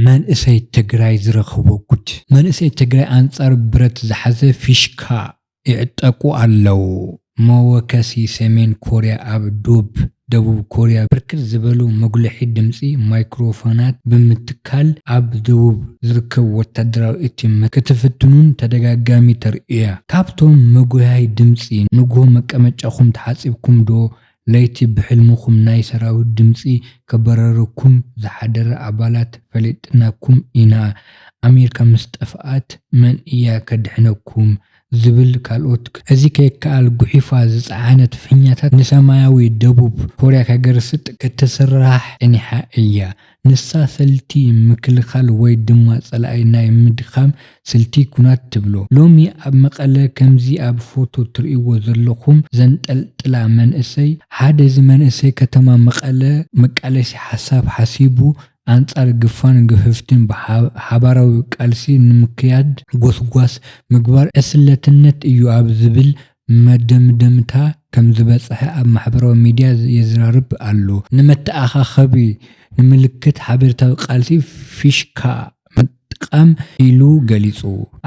መንእሰይ ትግራይ ዝረኸቦ ጉድ! መንእሰይ ትግራይ ኣንፃር ብረት ዝሓዘ ፊሽካ ይዕጠቁ ኣለው። መወከሲ ሰሜን ኮርያ ኣብ ዶብ ደቡብ ኮርያ ብርክት ዝበሉ መጉልሒ ድምፂ ማይክሮፎናት ብምትካል፣ ትካል ኣብ ደቡብ ዝርከብ ወታደራዊ ኤቲኤም ክትፍትኑን ተደጋጋሚ ተርእዩያ። ካብቶም መጉያይ ድምጺ ንግሆ መቀመጫኹም ተሓጺብኩም ዶ ለይቲ ብሕልምኹም ናይ ሰራዊት ድምጺ ከበረረኩም ዝሓደረ ኣባላት ፈሊጥናኩም ኢና ኣሜርካ ምስ ጠፍኣት መን እያ ከድሕነኩም ዝብል ካልኦት እዚ ከይከኣል ጉሒፋ ዝጸዓነት ፊኛታት ንሰማያዊ ደቡብ ኮርያ ከገርስጥ ክትስርራሕ ጸኒሓ እያ። ንሳ ሰልቲ ምክልኻል ወይ ድማ ጸላኢ ናይ ምድኻም ስልቲ ኩናት ትብሎ። ሎሚ ኣብ መቐለ ከምዚ ኣብ ፎቶ ትርእይዎ ዘለኹም ዘንጠልጥላ መንእሰይ፣ ሓደ እዚ መንእሰይ ከተማ መቐለ መቃለሲ ሓሳብ ሓሲቡ ኣንፃር ግፋን ግፍፍትን ሓባራዊ ቃልሲ ንምክያድ ጎስጓስ ምግባር ዕስለትነት እዩ ኣብ ዝብል መደምደምታ ከምዝበፅሐ ኣብ ማሕበራዊ ሚዲያ የዝራርብ ኣሎ። ንመተኣኻኸቢ ንምልክት ሓበሬታዊ ቃልሲ ፊሽካ ምጥቃም ኢሉ ገሊፁ።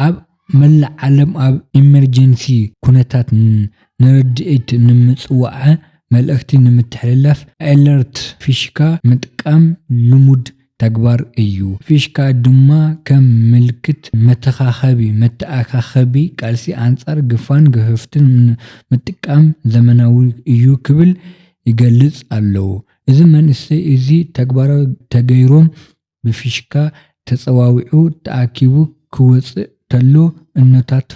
ኣብ። መላእ ዓለም ኣብ ኢመርጀንሲ ኩነታት ንረድኤት ንምፅዋዐ መልእኽቲ ንምትሕልላፍ ኣለርት ፊሽካ ምጥቃም ልሙድ ተግባር እዩ። ፊሽካ ድማ ከም ምልክት መተኻኸቢ፣ መተኣኻኸቢ ቃልሲ ኣንፃር ግፋን ግህፍትን ንምጥቃም ዘመናዊ እዩ ክብል ይገልፅ ኣሎ። እዚ መንእሰይ እዚ ተግባራዊ ተገይሮም ብፊሽካ ተጸዋዊዑ ተኣኪቡ ክወጽእ ተሎ እኖታት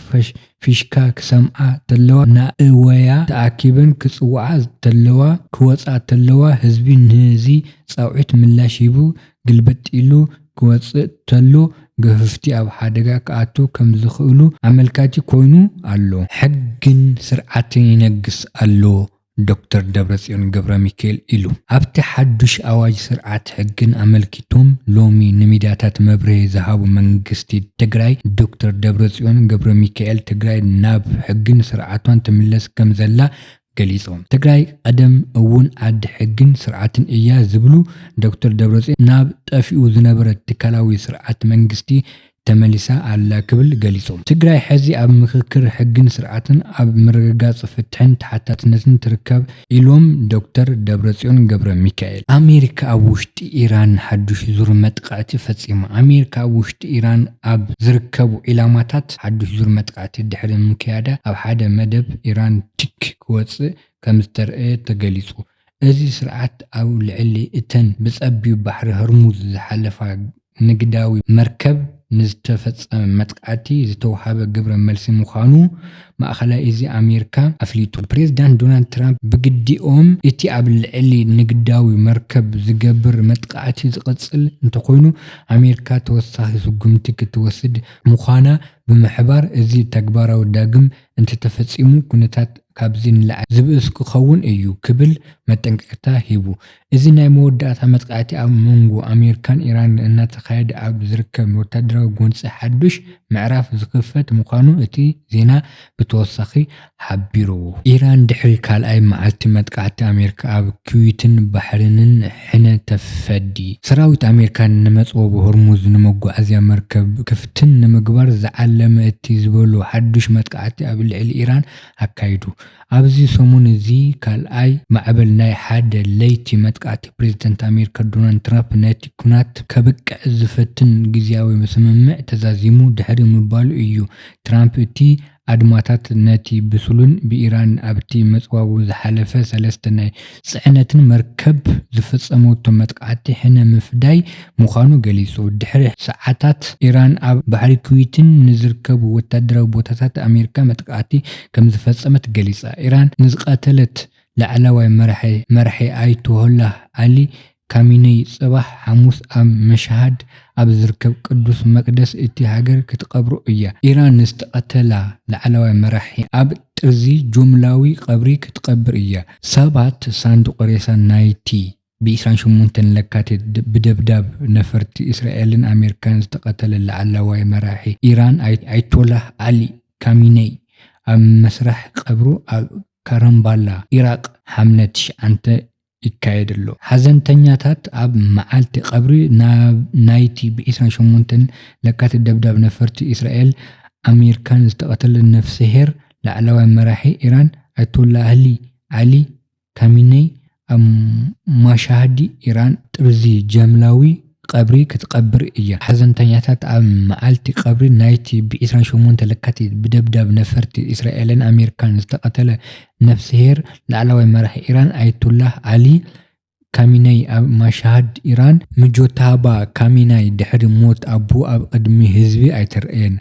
ፊሽካ ክሰምዓ ተለዋ ናእወያ ተኣኪበን ክጽውዓ ተለዋ ክወጻ ተለዋ ህዝቢ ንዚ ጻውዒት ምላሽ ሂቡ ግልብጥ ኢሉ ክወጽእ ተሎ ገፍፍቲ ኣብ ሓደጋ ክኣትው ከም ዝኽእሉ ኣመልካቲ ኮይኑ ኣሎ። ሕግን ስርዓትን ይነግስ ኣሎ ዶክተር ደብረፅዮን ገብረሚካኤል ኢሉ። ኣብቲ ሓዱሽ ኣዋጅ ስርዓት ሕግን ኣመልኪቶም ሎሚ ንሚድያታት መብርሂ ዝሃቡ መንግስቲ ትግራይ ዶክተር ደብረፅዮን ገብረሚካኤል ትግራይ ናብ ሕግን ስርዓቷን ትምለስ ከምዘላ ገሊፆም። ትግራይ ቐደም እውን ዓዲ ሕግን ስርዓትን እያ ዝብሉ ዶክተር ደብረፅዮን ናብ ጠፊኡ ዝነበረ ትካላዊ ስርዓት መንግስቲ ተመሊሳ ኣላ ክብል ገሊጹ። ትግራይ ሕዚ ኣብ ምኽክር ሕግን ስርዓትን፣ ኣብ ምርግጋፅ ፍትሕን ተሓታትነትን ትርከብ ኢሎም ዶክተር ደብረፅዮን ገብረሚካኤል። ኣሜሪካ ኣብ ውሽጢ ኢራን ሓዱሽ ዙር መጥቓዕቲ ፈፂማ። ኣሜሪካ ኣብ ውሽጢ ኢራን ኣብ ዝርከቡ ዒላማታት ሓዱሽ ዙር መጥቓዕቲ ድሕሪ ምክያዳ ኣብ ሓደ መደብ ኢራን ቲክ ክወፅእ ከምዝተርእየ ተገሊፁ። እዚ ስርዓት ኣብ ልዕሊ እተን ብጸቢብ ባሕሪ ሆርሙዝ ዝሓልፋ ንግዳዊ መርከብ ንዝተፈጸመ መጥቃዕቲ ዝተውሃበ ግብረ መልሲ ምዃኑ ማእከላይ እዚ ኣሜሪካ ኣፍሊጡ። ፕሬዝዳንት ዶናልድ ትራምፕ ብግዲኦም፣ እቲ ኣብ ልዕሊ ንግዳዊ መርከብ ዝገብር መጥቓዕቲ ዝቕጽል እንተኾይኑ ኣሜሪካ ተወሳኺ ስጉምቲ ክትወስድ ምዃና ብምሕባር እዚ ተግባራዊ ዳግም እንተተፈጺሙ ኩነታት ካብዚ ንላዕሊ ዝብእስ ክኸውን እዩ ክብል መጠንቀቕታ ሂቡ። እዚ ናይ መወዳእታ መጥቓዕቲ ኣብ መንጎ ኣሜሪካን ኢራንን እናተኻየደ ኣብ ዝርከብ ወታደራዊ ጎንጺ ሓዱሽ ምዕራፍ ዝኽፈት ምዃኑ እቲ ዜና ብተወሳኺ ሓቢሩ። ኢራን ድሕሪ ካልኣይ መዓልቲ መጥቓዕቲ ኣሜሪካ ኣብ ኩዌትን ባሕሬንን፣ ሕነ ተፈዲ። ሰራዊት ኣሜሪካ ንመፅወቢ ሆርሙዝ ንመጓዓዝያ መርከብ ክፍትን ንምግባር ዝዓለመ እቲ ዝበሎ ሓዱሽ መጥቃዕቲ ኣብ ልዕሊ ኢራን ኣካይዱ። ኣብዚ ሰሙን እዚ ካልኣይ ማዕበል ናይ ሓደ ለይቲ መጥቃዕቲ ፕሬዝደንት ኣሜሪካ ዶናልድ ትራፕ ነቲ ኩናት ከብቅዕ ዝፈትን ግዝያዊ ስምምዕ ተዛዚሙ ድሕሪ ምባሉ እዩ ትራምፕ እቲ ኣድማታት ነቲ ብሱሉን ብኢራን ኣብቲ መጽዋቡ ዝሓለፈ ሰለስተ ናይ ጽዕነትን መርከብ ዝፈጸመቶ መጥቃዕቲ ሕነ ምፍዳይ ምዃኑ ገሊጹ። ድሕሪ ሰዓታት ኢራን ኣብ ባሕሪ ኩዌትን ንዝርከቡ ወተሃደራዊ ቦታታት ኣሜሪካ መጥቃዕቲ ከምዝፈጸመት ገሊጻ። ኢራን ንዝቐተለት ላዕላዋይ መራሒ መራሒ ኣያቶላህ ዓሊ ካሚነይ ጽባሕ ሓሙስ ኣብ መሻሃድ ኣብ ዝርከብ ቅዱስ መቅደስ እቲ ሃገር ክትቀብሮ እያ። ኢራን ንዝተቀተላ ላዕለዋይ መራሒ ኣብ ጥርዚ ጁምላዊ ቀብሪ ክትቀብር እያ። ሰባት ሳንዱቅ ሬሳ ናይቲ ብ ዕስራን ሸሞንተን ለካቲት ብደብዳብ ነፈርቲ እስራኤልን ኣሜሪካን ዝተቀተለ ላዕለዋይ መራሒ ኢራን ኣይቶላህ ዓሊ ካሚነይ ኣብ መስራሕ ቀብሩ ኣብ ካራምባላ ኢራቅ ሓምለ ትሽዓተ ይካየድ ኣሎ። ሓዘንተኛታት ኣብ መዓልቲ ቀብሪ ናይቲ ብ ዕስራን ሸሞንተን ለካቲት ደብዳብ ነፈርቲ እስራኤል ኣሜሪካን ዝተቐተለ ነፍሰሄር ላዕለዋይ መራሒ ኢራን ኣያቶላህሊ ዓሊ ካሚነይ ኣብ ማሻሃዲ ኢራን ጥርዚ ጃምላዊ ቐብሪ ክትቐብር እያ። ሓዘንተኛታት ኣብ መዓልቲ ቐብሪ ናይቲ ብ ዕስራን ሸሞንተን ለካቲት ብደብዳብ ነፈርቲ እስራኤልን ኣሜሪካን ዝተቐተለ ነፍስሄር ላዕለዋይ መራሒ ኢራን ኣያቶላህ ዓሊ ካሚነይ ኣብ ማሻሃድ ኢራን ሙጆታባ ካሚናይ ድሕሪ ሞት ኣቦኡ ኣብ ቕድሚ ህዝቢ ኣይተርእየን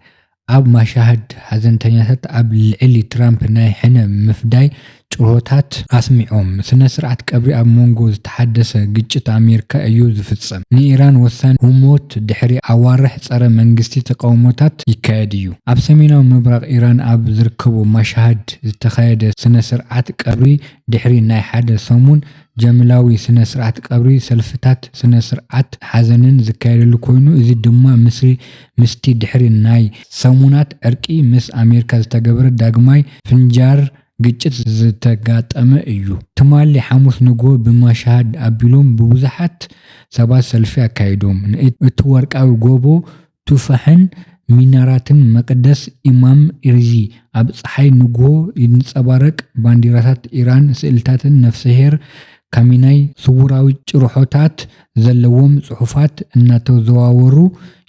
ኣብ ማሻህድ ሓዘንተኛታት ኣብ ልዕሊ ትራምፕ ናይ ሕነ ምፍዳይ ጭርሆታት ኣስሚዖም። ስነ-ስርዓት ቀብሪ ኣብ መንጎ ዝተሓደሰ ግጭት ኣሜሪካ እዩ ዝፍጸም። ንኢራን ወሳኒ ህሞት ድሕሪ ኣዋርሕ ጸረ መንግስቲ ተቓውሞታት ይካየድ እዩ። ኣብ ሰሜናዊ ምብራቕ ኢራን ኣብ ዝርከቡ ማሻህድ ዝተኻየደ ስነ-ስርዓት ቀብሪ ድሕሪ ናይ ሓደ ሰሙን ጀምላዊ ስነ-ስርዓት ቀብሪ ሰልፍታት ስነ-ስርዓት ሓዘንን ዝካየደሉ ኮይኑ እዚ ድማ ምስ ምስቲ ድሕሪ ናይ ሰሙናት ዕርቂ ምስ ኣሜሪካ ዝተገብረ ዳግማይ ፍንጃር ግጭት ዝተጋጠመ እዩ። ትማሊ ሓሙስ ንግሆ ብማሻሃድ ኣቢሎም ብብዙሓት ሰባት ሰልፊ ኣካይዶም፣ ንእቲ ወርቃዊ ጎቦ ቱፋሕን ሚናራትን መቅደስ ኢማም ኢርዚ ኣብ ጸሓይ ንግሆ ይንጸባረቅ፣ ባንዲራታት ኢራን፣ ስእልታትን ነፍሰሄር ካሚናይ ስውራዊ ጭርሖታት ዘለዎም ፅሑፋት እናተዘዋወሩ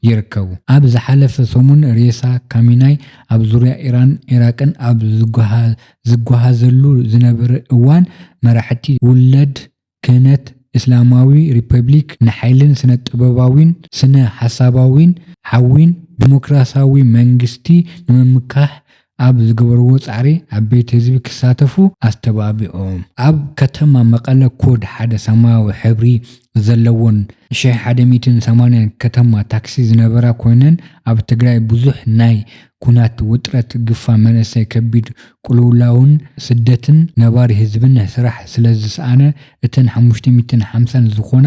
ይርከቡ። ኣብ ዝሓለፈ ሰሙን ሬሳ ካሚናይ ኣብ ዙርያ ኢራን ኢራቅን ኣብ ዝጓሃዘሉ ዝነበረ እዋን መራሕቲ ውላድ ክህነት እስላማዊ ሪፐብሊክ ንሓይልን ስነ ጥበባዊን ስነ ሓሳባዊን ሓዊን ዲሞክራሲያዊ መንግስቲ ንምምካሕ ኣብ ዝገበርዎ ፃዕሪ ዓበይቲ ህዝቢ ክሳተፉ ኣስተባቢዖም። ኣብ ከተማ መቐለ ኮድ ሓደ ሰማያዊ ሕብሪ ዘለወን ሺሕ ሓደ ሚእትን ሰማንያን ከተማ ታክሲ ዝነበራ ኮይነን ኣብ ትግራይ ብዙሕ ናይ ኩናት ውጥረት፣ ግፋ መንእሰይ፣ ከቢድ ቁልውላውን ስደትን ነባሪ ህዝብን ስራሕ ስለዝስኣነ እተን ሓሙሽተ ሚእትን ሓምሳን ዝኾና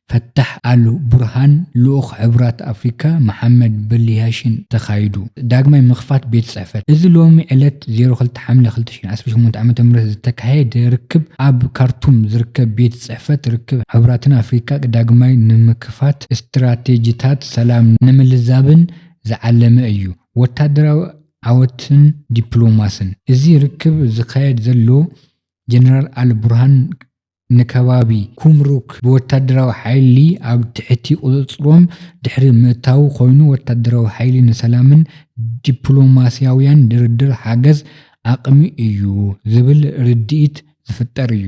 ፈታሕ ኣል ቡርሃን ልኡኽ ሕቡራት ኣፍሪካ መሓመድ በሊያሺን ተኻይዱ። ዳግማይ ምኽፋት ቤት ፅሕፈት። እዚ ሎሚ ዕለት ዜሮ ክልተ ሓምለ ክልተ ሽሕን ዓሰርተ ሸሞንተ ዓመተ ምህረት ዝተካየደ ርክብ ኣብ ካርቱም ዝርከብ ቤት ፅሕፈት ርክብ ሕቡራትን ኣፍሪካ ዳግማይ ንምክፋት ስትራቴጂታት ሰላም ንምልዛብን ዝዓለመ እዩ። ወታደራዊ ዓወትን ዲፕሎማስን። እዚ ርክብ ዝካየድ ዘሎ ጀነራል ኣል ቡርሃን ንከባቢ ኩምሩክ ብወታደራዊ ሓይሊ ኣብ ትሕቲ ቁፅፅሮም ድሕሪ ምእታዉ ኮይኑ ወታደራዊ ሓይሊ ንሰላምን ዲፕሎማሲያዊያን ድርድር ሓገዝ ኣቅሚ እዩ ዝብል ርድኢት ዝፍጠር እዩ።